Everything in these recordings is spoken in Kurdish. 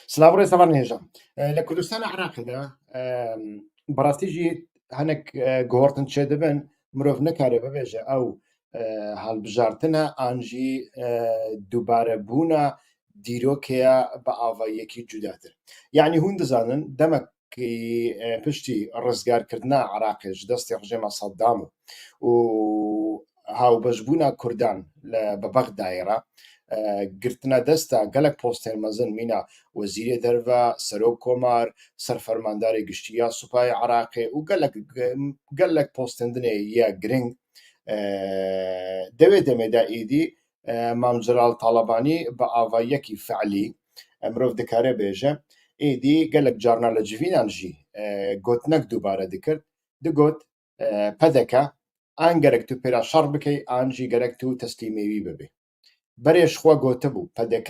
Slavore Savan Hêja. Li Kurdistana Iraqê de bi rastî jî hinek guhertin çêdibin mirov nikare bibêje ew hilbijartina an jî dûbarebûna dîrokê ya bi avayiyekî cudatir. Yanî hûn dizanin demek ki piştî rizgarkirina Iraqê ji destê rejêma Saddam û hawbejbûna Kurdan li bi Bexdayê re girtina desta gelek postên mezin mîna Wezîrê Derve, Serok Komar, Serfermandarê Giştî ya Supayê Iraqê û gelek gelek postên dinê ya giring di wê demê de êdî Mam Celal Talabanî bi avayiyekî fiilî mirov dikare bêje. Êdî gelek carna li civînan jî gotinek dubare dikir. Digot pdk an gerek tu pêra şer bikey an jî gerek tu teslîmê wî bibî. Berê ji xwe gotibû pdk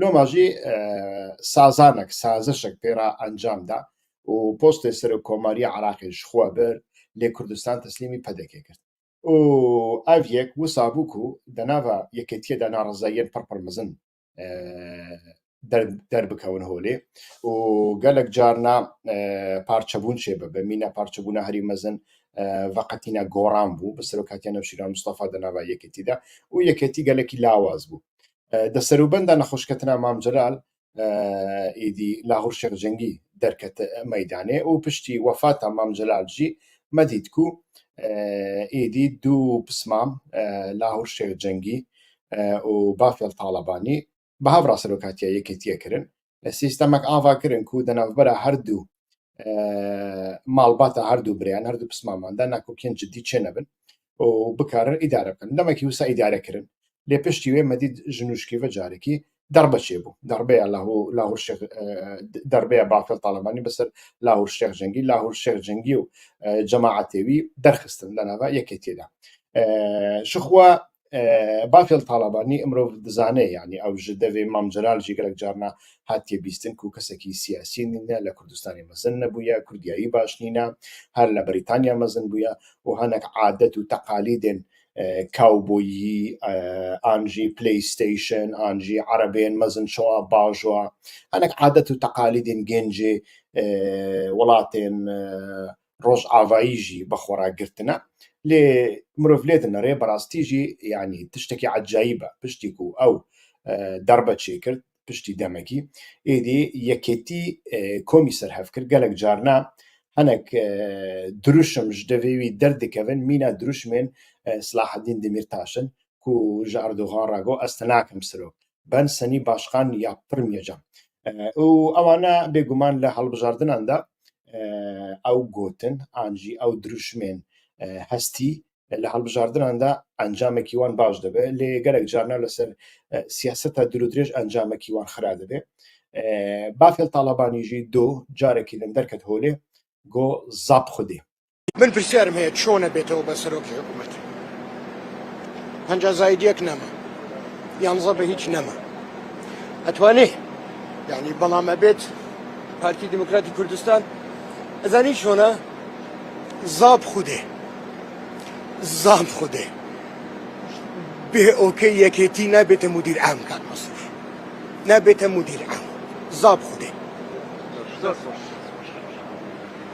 Loma jî sazanek, sazişek pê re encam da û postê Serokomarîya Iraqê ji xwe bir lê Kurdistan teslîmî PDKê kir. Û ev yek wisa bû ku di nava yekêtiyê de narizayiyên pir pir mezin derbikewin holê û gelek carna parçebûn çêbibe. Mîna parçebûna herî mezin veqetîna goran bû bi serokatiya Newşîran Mistefa di nava yekêtî de û yekêtî gelekî lawaz bû. Di serûbenda nexweşketina Mam Celal êdî Lahûr Şêx Cengî derket meydanê û piştî wefata Mam Celal jî me dît ku êdî du pismam Lahûr Şêx Cengî û Bafel Talabanî bi hev re serokatiya Yekêtiyê kirin. sîstemek ava kirin ku di navbera her du malbata her du birêyan her du pismaman de nakokiyên cidî çênebin û bikarin îdare bikin. Demekî wisa îdare kirin. Lê piştî wê me dît ji nûşkî ve carekî derbe çêbû. Derbeya Lahûr Şêx derbeya Bafel Talebanî bi ser Lahûr Şêx Cengî, Lahûr Şêx Cengî û cemaetê wî derxistin di nava yekêtiyê de. Jixwe Bafel Talabanî mirov dizane yanî ew ji devê Mam Celal jî gelek carna hatiye bîstin ku kesekî siyasî nîne, li Kurdistanê mezin nebûye, kurdiyayî baş nîne, her li Brîtanya mezin bûye û hinek adet û teqalîdên kawboyî an jî playstation an jî erebên mezin şo a baş a hinek adet û teqalîdên gêncê welatên rojavayî jî bi xwe re girtine. Lê mirov lê dinere bi rastî jî yanî tiştekî ecayîb e. Piştî ku ew darbe çêkir piştî demekî êdî yekêtî komî serhev kir. Gelek carine hinek dirûşim ji devê wî derdikevin. Mîna dirûşmên Silaheddîn Demîrtaş in ku ji Erdogan re got ez te nakim sirok. Ben Senî Başkan ya Pirmî ca û ewane bêguman li hilbijardinan de ew gotin an jî ew dirûşmên hestî li hilbijardinan de encamekî wan baş dibe lê gelek carnan li ser siyaseta dûrûdirêj encamekî wan xira dibe. Bafêl Talabanî jî do carekî din derket holê got zap xwedê. Min pirsiyarim heye çone bête oba serokê hikûmetê? Penca zaîdiyek nema. Yanza be hîç nema. Etwanê yanî bela me bêt Partî Demokratî Kurdistan ez zanî çona zab xwedê zab xwedê bê okey yekêtî nebête mudîr em kak Masrûr. Nebête mudîr em. Zab xwedê.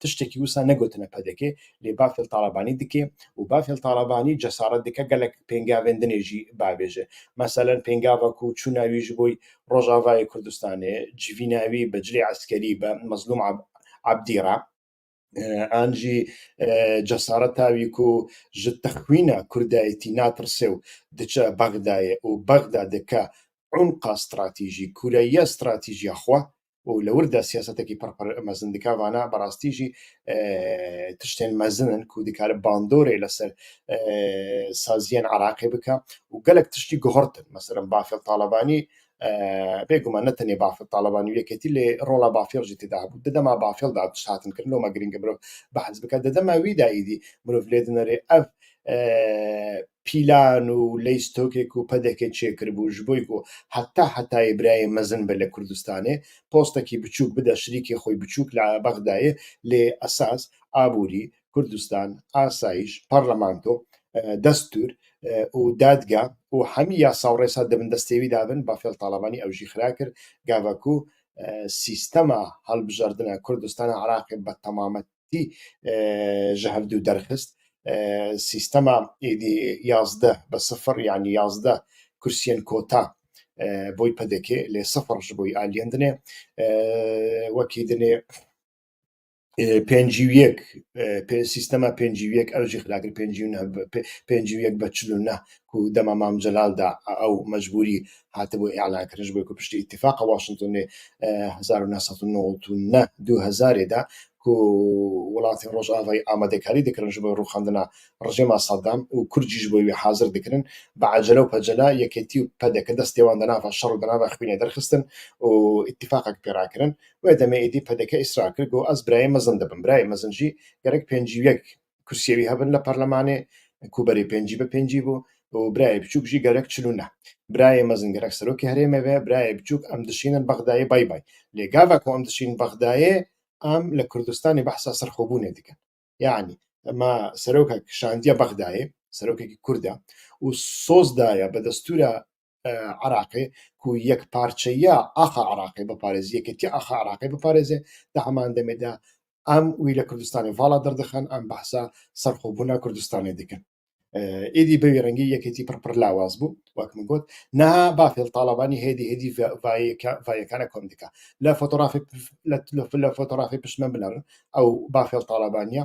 Tiştekî wisa negotine pdk lê Bafêl Talabanî dike û Bafêl Talabanî cesaret dike gelek pêngavên din ê jî biavêje. Meselen pêngava ku çûna wî ji bo Rojavayê Kurdistanê civîna wî bi cilê eskerî bi Mezlûm Ebdî re, an jî cesareta wî ku ji texwîna kurdayetî natirse û diçe Bexdayê û Bexda dike unqa stratîjî, kureyiya stratîjîya xwe û li wir de siyasetekî pir pir mezin dike. Vana bi rastî jî tiştên mezin in ku dikare bandorê li ser saziyên Iraqê bike û gelek tiştî guhertin. Meselem Bafil Talebanî bê guman ne tenê Bafil Talebanî û yeketî lê rola Bafil jî têde hebû. Di dema Bafil de tişt hatin kirin loma girîng e mirov behs bike. Di dema wî de êdî mirov lê dinirê ev pîlan û leystokê ku pdk çêkiribû ji bo ku heta hetayê birayê mezin be li Kurdistanê, postekî biçûk bide şirîkê xwe biçûk li Bexdayê lê esas aborî, Kurdistan, asayîş, parlamento, destûr û dadga û hemî yasa û rêsa di bin destê wî de bin, Bafel Talabanî ew jî xira kir, gava ku sîstema hilbijardina Kurdistana Iraqê bi temamet Parti ji hev dû derxist. Sîstema êdî yazdeh bi sifir yanî yazdeh kursiyên kota bo PDK'ê lê sifir ji bo aliyên din ê. Wekî din ê pênc û yek sîstema pênc û yek ew jî xira kir pênc û neh pênc û yek be çil û neh ku dema Mam Celal de ew mecbûrî hatibû îlankirin ji bo ku piştî Îtîfaqa Washingtonê hezar û neh sed û newt û neh du hezarê de ku welatên Rojavayî amadekarî dikirin ji bo rûxandina rejîma Saddam û Kurd jî ji bo wî hazir dikirin bi ecele û pecele yekêtî û pdk destê wan di nava şer û di nava xwînê derxistin û îtîfaqek pê rakirin. Wê demê êdî pdk îsrar kir ku ez birayê mezin dibim. Birayê mezin jî gerek pêncî û yek kursiyê wî hebin li parlemanê ku berê pêncî bi pêncî bû û birayê biçûk jî gerek çil û neh birayê mezin gerek serokê herêmê be birayê biçûk em dişînin bexdayê bay bay lê gava ku em dişînin bexdayê em li kurdistanê behsa serxwebûnê dikin yanî me serokek şandiye bexdayê serokekî kurd e û soz daye bi destûra Iraqê ku yekparçeyiya axa Iraqê biparêzê, yekîtiya axa Iraqê biparêzê. Di heman demê de em wî li Kurdistanê vala derdixin, em behsa serxwebûna Kurdistanê dikin. Êdî bi vî rengî yekîtî pir pir lawaz bû wek min got. Niha bafê li Talabanî hêdî hêdî vayekane kom dike. Li fotorafê li fotorafê pişt me binerin ew bafê li Talabanî ye.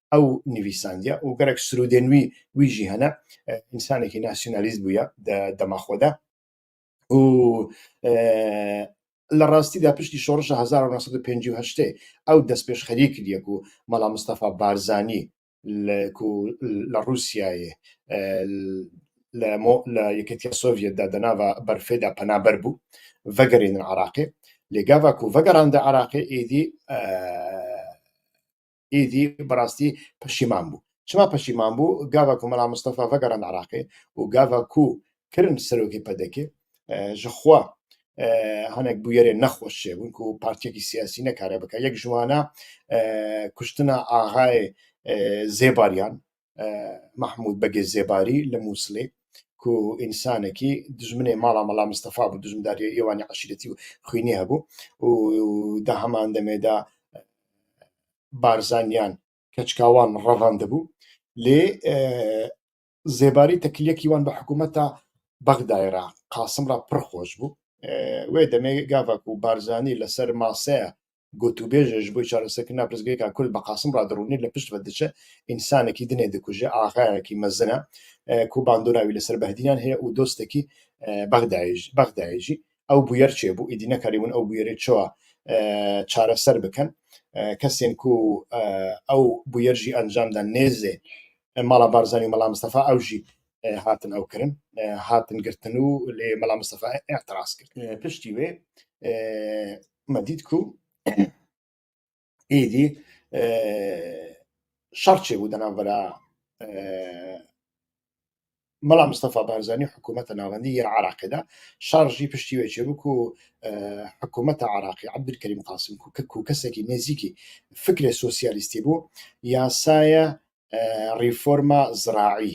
ew nivîsandiya û gerek sirûdên wî wî jî hene însanekî nasyonalîst bûye di dema xwe de û li rastî de piştî şorişa hezar û neh sed û pêncî û heştê ew destpêşxerî kiriye ku mala Mistefa Barzanî li ku li Rûsyayê li li Yekîtiya Sovyet de di nava berfê de penaber bû vegerînin Iraqê lê gava ku vegerande Iraqê êdî Êdî bi rastî peşîman bû. Çima peşîman bû? Gava ku Mela Mistefa vegerand Iraqê û gava ku kirin serokê PDK ji xwe hinek bûyerên nexweş çêbûn ku partiyekî siyasî nekare bike. Yek ji wan e kuştina axayê Zêbaryan Mahmûd Begê Zêbarî li Mûsilê ku însanekî dijminê mala Mela Mistefa bû, dijmindarîya êwanî eşîretî û xwînî hebû û di heman demê de barzaniyan, keçikawan revandibû lê Zêbarî tekiliyekî wan bi hikûmeta Bexdayê re, Qasim re pir xweş bû. Wê demê gava ku Barzanî li ser maseya Gotûbêj ji bo çareserkirina pirsgirêka ku li bi Qasim re dirûnê li pişt ve diçe, însanekî dinê dikuje, axayekî mezin e ku bandora wî li ser Behdînan heye û dostekî Bexdayê jî. Ew bûyer çêbû, îdî nekarîbûn ew bûyerê çawa çareser bikin. Kesên ku ew bûyer jî encam dan nêzê mala Barzanî û mela Mistefa ew jî hatin ew kirin, hatin girtin û lê Mela Mistefa îtiraz kir. Piştî wê me dît ku êdî şer çêbû di navbera Mela Mistefa Barzanî û hikûmeta navendî yên Iraqê de. Şer jî piştî wê çêbû ku hikûmeta Iraqê Ebdulkerîm Qasim ku kesekî nêzîkî fikrê sosyalîstî bû, yasaya rîforma ziraî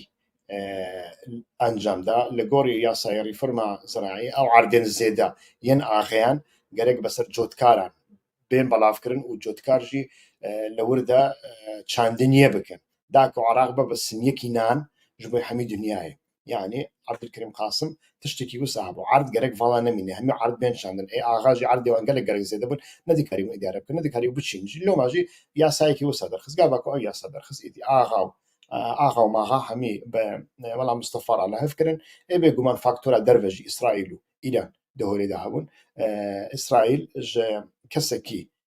encam da. Li gorî yasaya rîforma ziraî ew erdên zêde yên axeyan gerek bi ser cotkaran bên belavkirin û cotkar jî li wir de çandiniyê bikin da ku Iraq bibe simyekî nan ji bo hemî dinyayê. yanî Abdulkerîm Qasim tiştekî wisa hebû. Erd gerek vala nemîne, hemî erd bên şandin. Ê axa jî erdê wan gelek gerek zêde bûn, nedikarî wan îdare bikin, nedikarî biçîn. Ji loma jî yasayekî wisa derxist, gava ku ew yasa derxist êdî axa û axa û maxa hemî bi Mela Mistefa re lihif kirin. Ê bêguman faktora derve jî Îsraîl û Îran di holê de hebûn. Îsraîl ji kesekî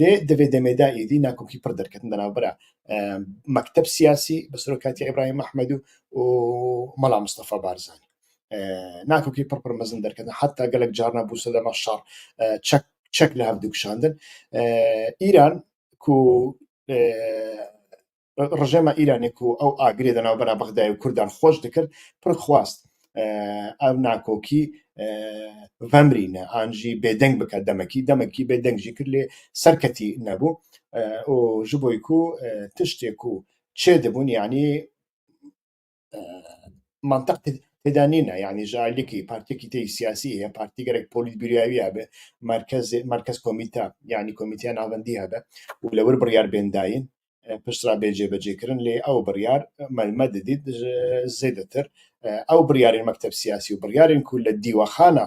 Lê di vê demê de êdî nakokî pir derketin di navbera mekteb siyasî bi serokatîya Îbrahîm Mehmedû û Mela Mistefa Barzanî. Nakokî pir pir mezin derketin heta gelek carna bû sedema şer çek çek li hev dikişandin. Îran ku Rejêma Îranê ku ew agirê di navbera Bexdayê û Kurdan xweş dikir, pir xwast ev nakokî vemrîne an jî bêdeng bike demekî. Demekî bêdeng jî kir lê serketî nebû û ji bo ku tiştê ku çêdibûn yanî manteq têda nîne yanî ji aylekî partiyekî tê siyasî heye partî gerek polîtbîrûyayî hebe merkezê merkez komîte yanî komîteya navendî hebe û li wir biryar bên dayîn pişt re bê cêvecêkirin lê ew biryar me me didît zêdetir ew biryarên mekteb siyasî û biryarên ku li dîwexana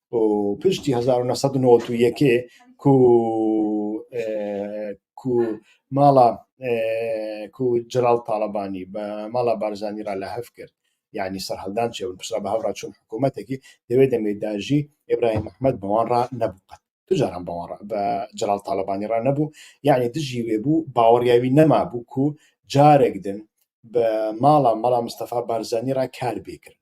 û piştî hezar û neh sed û newed û yekê ku ku mala ku Celal Talebanî bi mala Barzanî re lehev kir yanî serhildan çêbûn piştre bi hev re çûn hikûmetekî di wê demê de jî Îbrahîm Mehmed bi wan re nebû qet tu caran bi wan re bi Celal Talebanî re nebû yanî dijî wê bû baweriya wî nemabû ku carek din bi mala mala Mistefa Barzanî re kar bê kirin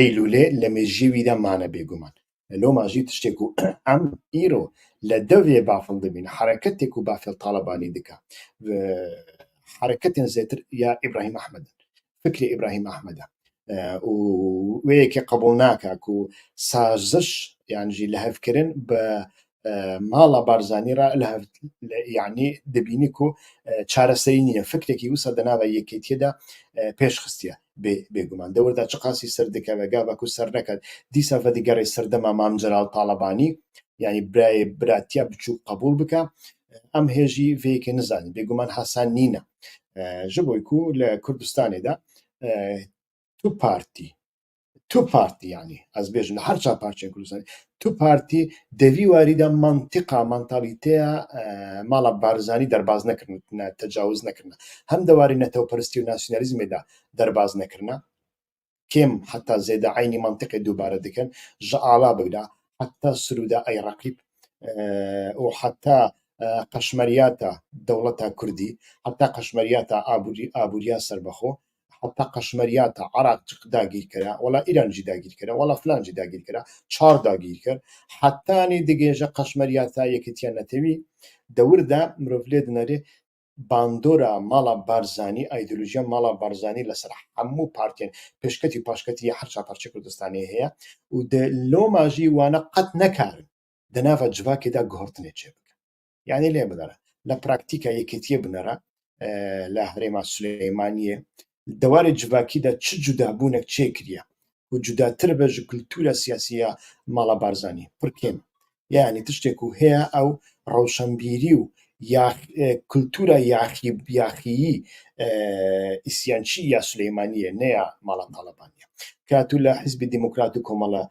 Eylûlê li mêjiyê wî de mane bêguman. Loma jî tiştê ku em îro li devê bafil dibîn hereketê ku bafil Talebanî dike hereketên zêtir ya Îbrahîm Ehmed in, fikrê Îbrahîm Ehmed e û wê yekê qebûl nake ku saziş yan jî lihevkirin bi mala Barzanî re li Hevlêyanê dibînî ku çareserî nîne. Fikrekî wisa di nava yekêtiyê de pêş xistiye. Bêguman dewr de çiqasî ser dikeve, gava ku ser neket dîsa vedigerê ser dema Mam Celal Talebanî yanî birayê biratiya biçûk qebûl bike. Em hê jî vê yekê nizanîn. Bêguman hesen nîne. Ji bo ku li Kurdistanê de tu partî, Tu partî yanî ez bêjim li her çar parçeyên Kurdistanê tu partî di vî warî de mantiqa mantalîteya mala Barzanî derbaz nekirine tecawiz nekirine hem di warî netewperistî û nasyonalîzmê de derbaz nekirine kêm heta zêde eynî mantiqê dubare dikin ji ala bigre heta Sirûda ey reqîb û heta qeşmeriyata dewleta Kurdî heta qeşmeriyata abûriya serbexwe heta qeşmeriya ta Iraq cik dagîr kira, wala Îran jî dagîr kira, wala filan jî dagîr kira, çar dagîr kir. Hetanî digêje qeşmeriya ta Yekîtiya Netewî. Dewir de mirov lê dinerê bandora mala Barzanî, îdeolojiya mala Barzanî li ser hemû partiyên pêşketî û paşketî yê her çar parçeyê Kurdistanê heye û di loma jî wana qet nekarin di nava civakê de guhertinê çêbikin. Yanî lê binêre. Li praktîka yekîtiyê binêre li herêma Silêmaniyê di warê civakî de çi cudabûnek çêkiriye ku cudatir be ji kultura siyasî ya mala Barzanî pir kêm e. Yanî tiştê ku heye ew rewşenbîrî û ya kultura yaxî yaxîyî îsyançî ya Silêmaniyê ne ya mala Talebanî ye. Ka tu li Hizbê Demokrat û Komala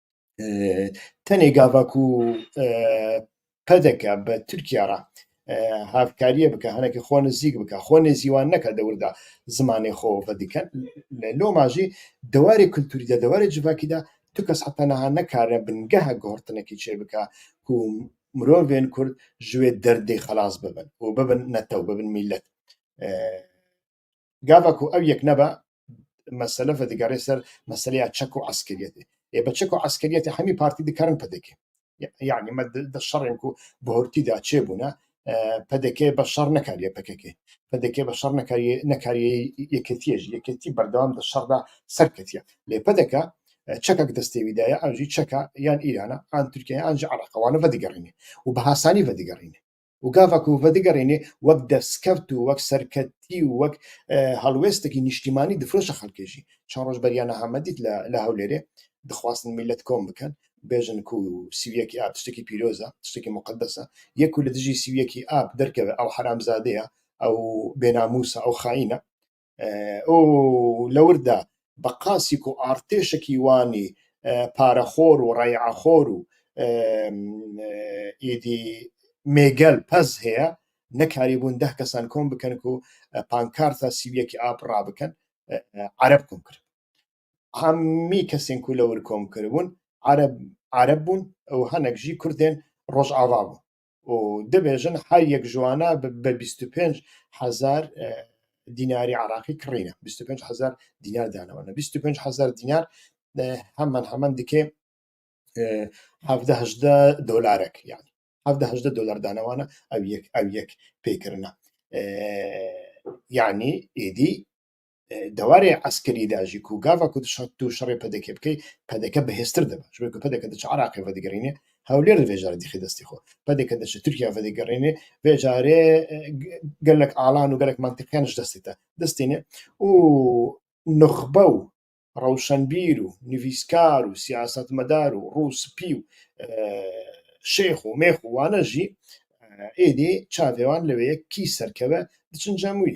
tenê gava ku pedeke bi Tirkiye re hevkariyê bike, hinekî xwe nizîk bike, xwe nêzî wan neke dewir de zimanê xwe vedikin. Li Loma jî di warê kulturî de, di warê civakî de tu kes heta niha nekarine bingeha guhertinekê çêbike ku mirovên Kurd ji wê derdê xelas bibin û bibin netew, bibin mîlet. Gava ku ew yek nebe mesele vedigerê ser meseleya çek û eskeriyetê. Ê bi çek û eskeriyetê hemî partî dikerin PDK. Yani me di şerên ku bi hurtî de çêbûne PDK bi şer nekariye PKK. PDK bi şer nekariye nekariye yeketiyê jî yeketî berdewam di şer de serketiye. Lê PDK çekek destê wî de ye ew jî çeka yan Îrana yan Tirkiye yan jî Iraqê wan vedigerîne û bi hasanî vedigerîne. û gava ku vedigerînê wek destkeft û wek serketî û wek helwêstekî nîştîmanî difiroşe xelkê jî. Çend roj beriya niha me dît li Hewlêrê dixwastin mîlet kom bikin bêjin ku sîviyekî a tiştekî pîroz e, tiştekî muqedes e. Yê ku li dijî sîviyekî a derkeve ew heramzade ye, ew bênamûs e, ew xaîn e. û li wir de bi qasî ku artêşekî Wanî parexor û reyaxor û êdî mêgel pez heye, nekarîbûn deh kesan kom bikin ku pankarta sî û yekê ap rabikin ereb kom kiribûn. Hemî kesên ku li wir kom kiribûn ereb ereb bûn û hinek jî kurdên rojava bûn. û dibêjin her yek ji wan e bi bîst û pênc hezar dînarî Iraqî kirîne. Bîst û pênc hezar dînar dane wan. Bîst û pênc hezar dînar heman heman dike hevdeh hejdeh dolarek yani. Hevdeh hejdeh dolar dane wan e ew yek ew yek pêkirine. Yani êdî dewarê eskerî de jî ku gava ku tu şerê PDK bikey PDK bihêztir dibe. Ji ber ku PDK diçe Iraqê vedigerînê hewlêr divê carê dixî destê xwe. PDK diçe Tirkiye vedigerînê vê carê gelek alan û gelek mantiqiyan ji destê te distînê û nuxbe û rewşenbîr û nivîskar û siyasetmedar û rû spî û şêx û mêx û wane jî êdî çavê wan li wê yek kî serkeve diçin cem wî.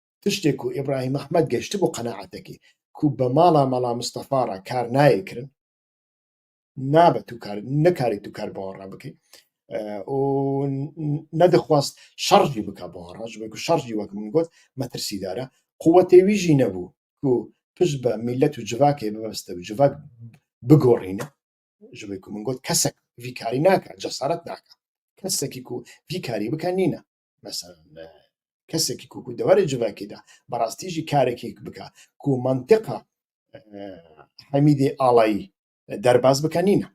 Tiştê ku Îbrahîm Ehmed geştibû qenaetekê ku bi mala Mela Mistefa re kar nayê kirin, nabe tu kar nikarî tu kar bi wan re bikî û nedixwast şer jî bika bi wan re ji bo ku şer jî wek min got metirsîdar e. Quwetê wî jî nebû ku pişt be mîlet û civakê bibeste û civak bigorîne. Ji bo ku min got kesek vî karî nake, cesaret nake. Kesekî ku vî karî bike nîne. Mesela kesekî ku ku deverê civakê de bi rastî jî karekî bike ku mantiqa Hemîdê Alayî derbas bike nîne.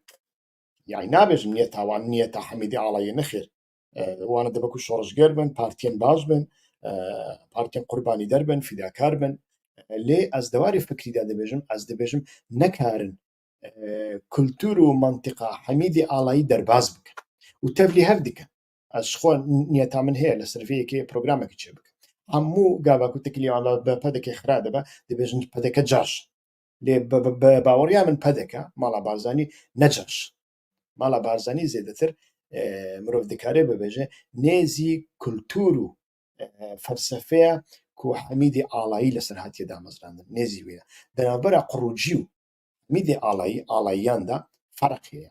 Yani nabêjim niye tawanî niyeta Hemîdê Alayî nexêr. Wan dibe ku şoreşger bin, partiyên baş bin, partiyên qurbanîder bin, fîdakar bin. Lê ez dewarê fikrî de dibêjim, ez dibêjim nekarin kultur û mantiqa Hemîdê Alayî derbas bikin û tevlî hev dikin. Ez ji xwe niyeta min heye li ser vê yekê programekî çê bikim. Hemû gava ku tu kiliyan da bi pedekê xira dibe, dibêjin pedeke caş. Lê bi baweriya min pedeke mala Barzanî ne caş. Mala Barzanî zêdetir e, mirov dikare bibêje nê zî kultur û e, felsefeya ku Hemîdê Alayî li ser hatiye damezrandin. Nê zî wê ye. Di navbera Qurûcî û Hemîdê Alayî, Alayiyan de ferq heye.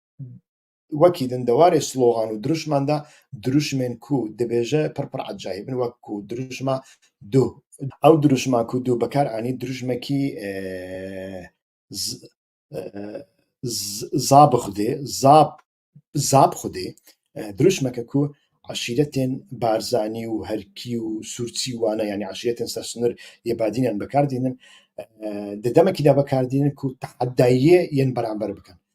wekî din di warê slogan û dirûşman de dirûşmên ku dibêje pir pir ecayîb in wek ku dirûşma dû. Ew dirûşma ku dû bi kar anî dirûşmekî za bi xwedê za za bi xwedê dirûşmeke ku eşîretên Barzanî û Herkî û Sûrtsî wane yanî eşîretên ser sinir yê Badînan bi kar dînin di demekî de bi kar dînin ku tehedayiyê yên beramber bikin.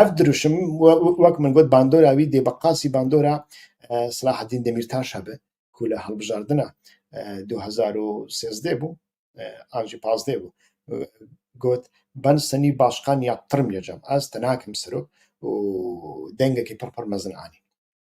Ev dirûşim wek min got bandora wî dê bi qasî bandora Silaheddîn Demîrtaş hebe ku li hilbijardina du hezar û sêzdeh bû an jî pazdeh bû got Ben Senî başkan ya pirm ya cem ez te nakim sero û dengekî pir pir mezin anî.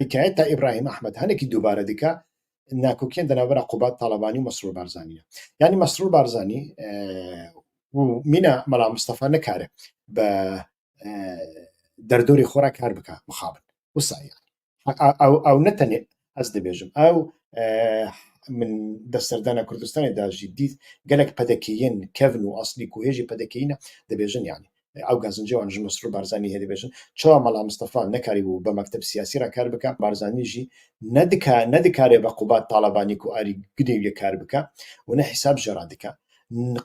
Hikayeta Îbrahîm Ehmed hinekî dubare dike nakokiyên di navbera Qubat Talabanî û Mesrûr Barzanî ye. Yanî Mesrûr Barzanî û mîna Mela Mistefa nikare bi derdorê xwe re kar bike mixabin. Wisa ye. Ew ew ne tenê ez dibêjim. Ew min di serdana Kurdistanê de jî dît gelek pedekeyên kevn û aslî ku hê jî pedekeyî ne dibêjin yanî. ew gazincê wan ji Mesrûr Barzanî hêdî bêjin. Çawa Mala Mistefa nekarîbû bi mekteb siyasî re kar bike, Barzanî jî nedika nedikare bi Qubat Talabanî ku arî gidê wî ye kar bike û ne hîsab jê re dike.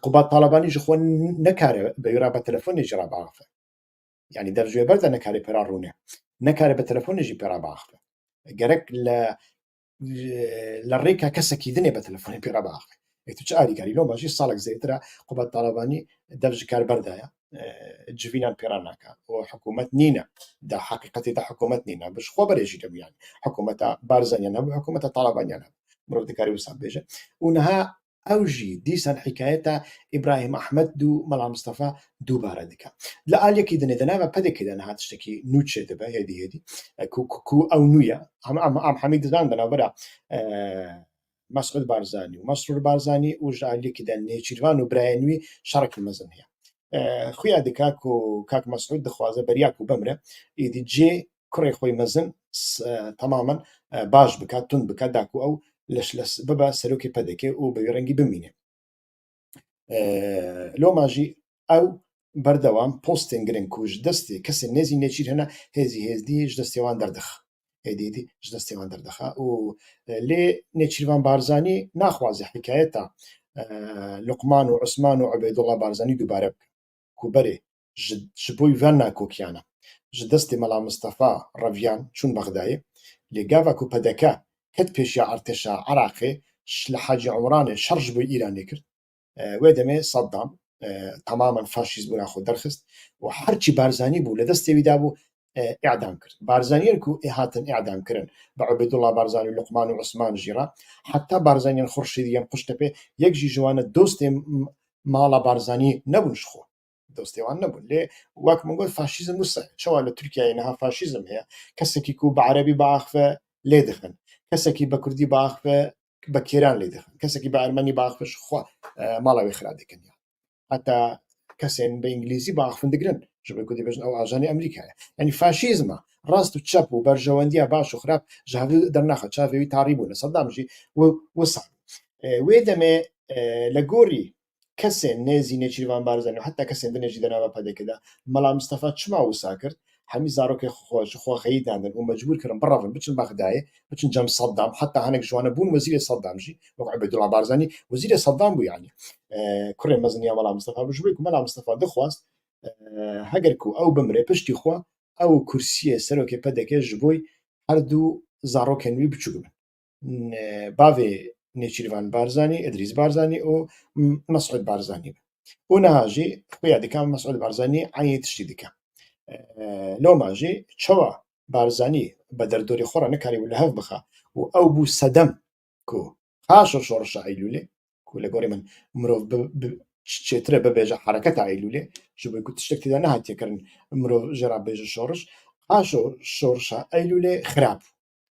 Qubat Talabanî ji xwe nekare bi wî re bi telefonê jî re biaxive. Yanî der ji wê ber de nekare pêra rûne. Nekare bi telefonê jî pêra biaxive. Gerek li li rêka kesekî dinê be telefonê pê re biaxivî. Ê tu çi alîkarî loma jî salek zêtir e Kubat Talabanî dev ji kar berdaya civînan pê re naka û hikûmet nîne da heqîqetê de hikûmet nîne bi ji xwe berê jî hebû yani hikûmeta Barzanîyan hebû hikûmeta Talabaniyan hebû mirov dikarî wisa bêje û niha ew jî dîsan hîkayeta Îbrahîm Ehmed dû Mela Mistefa dûbare dike. Li aliyekî dinê di nava PDK'ê de niha tiştekî nû çê dibe hêdî hêdî ku ku ew nû ye. Am Hemîd Didan di navbera Mesûd Barzanî û Mesrûr Barzanî û ji aliyekî de Nêçîrvan û birayên wî şerekî mezin heye. Xuya dike ku kak Mesûd dixwaze beriya ku bimre êdî cê kurê xwe mezin temamen baş bike, tund bike da ku ew bibe serokê PDK'ê û bi vî rengî bimîne. Loma jî ew berdewam postên giring ku ji destê kesên nêzî nêçîr hene hêzî hêzdî ji destê wan derdixe, hêdî hêdî ji destê wan derdixe û lê Nêçîrvan Barzanî naxwaze hikayeta Luqman û Usman û Ubeydulla Barzanî dubare bike ku berê ji bo ve nakokiyane ji destê Mela Mistefa reviyan çûn Bexdayê lê gava ku pdk ket pêşiya artêşa Iraqê li Hacî Omranê şer ji bo Îranê kir wê demê Saddam temamen faşîstbûna xwe derxist û her çi Barzanî bû li destê wî dabû îdam kir. Barzaniyên ku ê hatin îdam kirin bi Ubêdullah Barzanî û Luqman û Usman jî re heta Barzaniyên Xurşîdî yên Qûştepê yek jî ji wan e dostê mala Barzanî nebûn ji xwe. dostê wan nebûn lê wek min got faşîzm wisa ye çawa li Tirkiyeyê niha faşîzm heye kesekî ku bi erebî biaxive lê dixin kesekî bi kurdî biaxive bi kêran lê dixin kesekî bi ermenî biaxive ji xwe mala wê xira dikin heta kesên bi îngilîzî biaxivin digirin ji ber ku dê bêjin ew ajanê Amerîka ye yanî faşîzma rast û çep û berjewendiya baş û xirab ji hev dernaxe çavê wî tarî bûne Sedam jî wisa wê demê li gorî kesên nêzî Nêçîrvan Barzanî û heta kesên din ê jî di nava PDK'ê de. Mela Mistefa çima wisa kir? Hemî zarokên xwe ji xwe xeyîdandin û mecbûr kirin birevin, biçin Bexdayê, biçin cem Seddam, heta hinek ji wan e bûn wezîrê Seddam jî, wek Ubêdullah Barzanî wezîrê Seddam bû yanî. Kurê mezin ya Mela Mistefa bû. Ji ber ku Mela Mistefa dixwest heger ku ew bimire piştî xwe ew û kursiyê serokê PDK'ê ji bo herdu zarokên wî biçûk bin. bavê Nêçîrvan Barzanî, Îdrîs Barzanî û Mesûd Barzanî be. Û niha jî xuya dike Mesûd Barzanî eynî tiştî dike. Loma jî çawa Barzanî bi derdorê xwe re nikarîbû li hev bixe û ew bû sedem ku paşa şorişa Eylûlê ku li gorî min mirov çêtir e bibêje hereketa Eylûlê ji bo ku tiştek tê de nehatiye kirin mirov jê re bêje şoriş. Paşo şorişa Eylûlê xirab bû.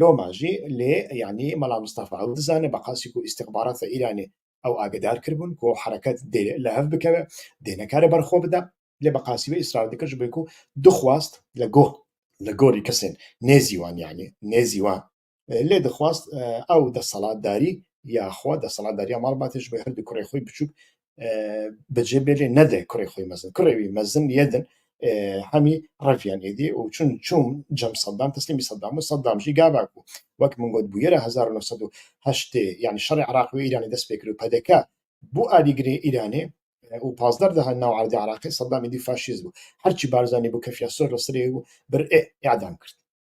Loma jî lê yanî Mela Mistefa ew dizane bi qasî ku îstixbarata Îranê ew agidar kiribûn ku hereket dê li hev bikeve, dê nekare ber xwe bide lê bi qasî wê îsrar dikir ji bo ku dixwast li gor li gorî kesên nêzî wan yanî nêzî wan lê dixwest ew desthilatdarî ya xwe, desthilatdariya Malbatê ji bo her du kurê xwe biçûk bicê bê lê nede kurê xwe mezin. Kurê wî mezin yê din e, hemî reviyan êdî û çûn çûn cem Saddam teslîmî Saddam û Saddam jî gava ku wek min got bûyera hezar û neh sed û heştê yanî şerê Iraqê û Îranê dest pê kir û pdk bû alîgirê Îranê û pazdar daha nav erdê Iraqê Saddam êdî faşîst bû. Her çî Barzanî bû kefiya sor li sirê û bir ê îdam kirt.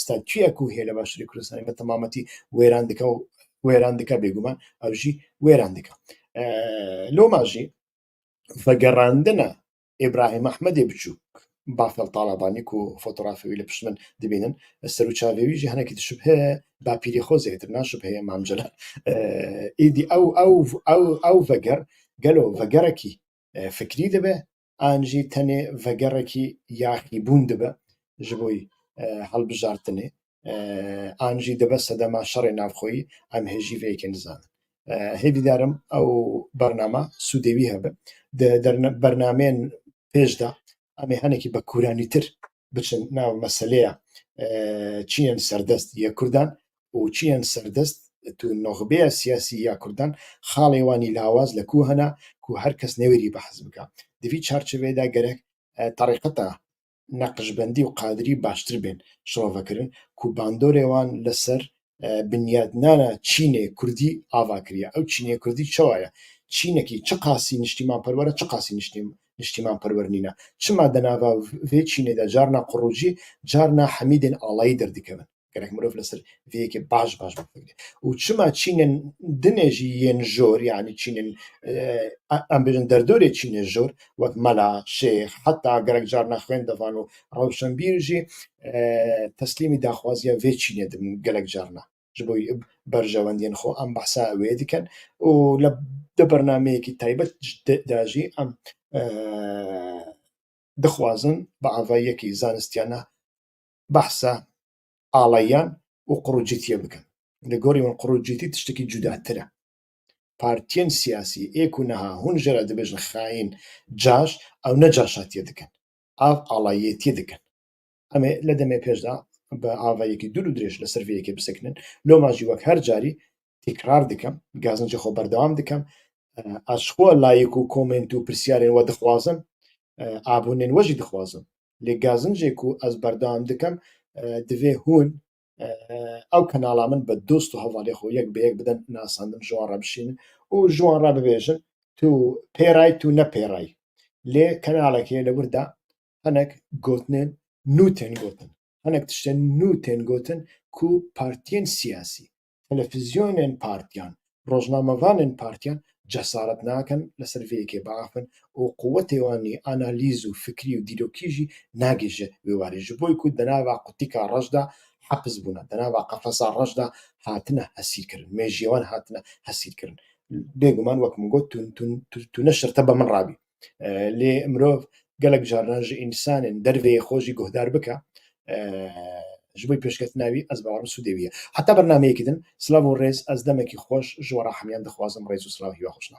statüya ku hê li Başûrê Kurdistanê me temametî wêran dike û wêran dike bêguman ew jî wêran dike. Loma jî vegerandina Îbrahîm Ahmedê biçûk Bafel Talabanî ku fotoğrafê wî li pişt min dibînin serûçavê wî jî hinekî dişibhe bapîrê xwe zêtir naşibheye Mam Celal êdî ew ew ew ew veger gelo vegerekî fikrî dibe an jî tenê vegerekî yaxîbûn dibe ji bo hilbijartinê an jî dibe sedema şerê navxweyî em hê jî vê yekê nizanin. Hêvî darim ew bername sûdê wî hebe. Di bernameyên pêş de em ê hinekî bi kûranîtir biçin nav meseleya çiyên serdest ya Kurdan û çiyên serdest tu noxbeya siyasî ya Kurdan xalê wan ê lawaz li ku hene ku her kes newêrî behs bike. Di vî çarçoveyê de gerek terîqeta Neqşbendî û Qadirî baştir bên şirovekirin ku bandorê wan li ser binyadnana Çînê Kurdî ava kiriye. Ew Çînê Kurdî çawa ye? Çînekî çi qasî niştîmanperwer e, çi qasî niştîmanperwer nîn e. Çima di nava vê Çînê de carna qurûcî, carna hemîdên alayî derdikevin. Gerek mirov li ser vê yekê baş baş bifikire. Û çima Çînên dinê jî yên jor, yanî Çînên em bêjin derdorê Çînê jor, wek mela, şêx, heta gerek carna xwêndevan û Rewşenbîr jî teslîmî daxwaziya vê çînê dibin gelek carna ji bo berjewendiyên xwe em behsa wê dikin û li di bernameyekî taybet de jî em dixwazin bi avayiyekî zanistiyane behsa aleyan û qurûcîtiyê bikin. Li gorî min qurûcîtî tiştekî cudatir e. Partiyên siyasî ê ku niha hûn jê re dibêjin xaîn, caş, ew ne caşatiyê dikin. av alayêtî dikin. Em ê li demê pêş de bi avayekî dûr û dirêj li ser vê yekê bisekinin. Loma jî wek her carî tîkrar dikim, gazincê xwe berdewam dikim. Ez ji xwe layîk û komênt û pirsyarên we dixwazim, abûnên we jî dixwazim. Lê gazincê ku ez berdewam dikim, divê hûn ew kanala min bi dost û hevalê xwe yek bi yek bidin nasandin ji wan re bişînin û ji wan re bibêjin tu pêray tu ne pêray lê kanalekê li wir de hinek gotinên nû tên gotin hinek tiştên nû tên gotin ku partiyên siyasî telefizyonên partiyan rojnamevanên partiyan cesaret nakin li ser vê yekê biafin û quwetê wan ê analîz û fikrî û dîrokî jî nagê ji wê warê ji bo ku di nava qutîka reş de hepis bûne, di nava qefesa reş de hatine hesîrkirin, mêjiyê wan hatine hesîrkirin. Bêguman wek min got tu tu tu tu ne şirte be min rabî. lê mirov gelek carinan ji însanên derveyê xwe jî guhdar bike ji bo pêşketina wî ez bawerim sûdê wî ye. Heta bernameyekî din silav û rêz ez demekî xweş ji we re hemîyan dixwazim rêz û silav hîwa xweş na.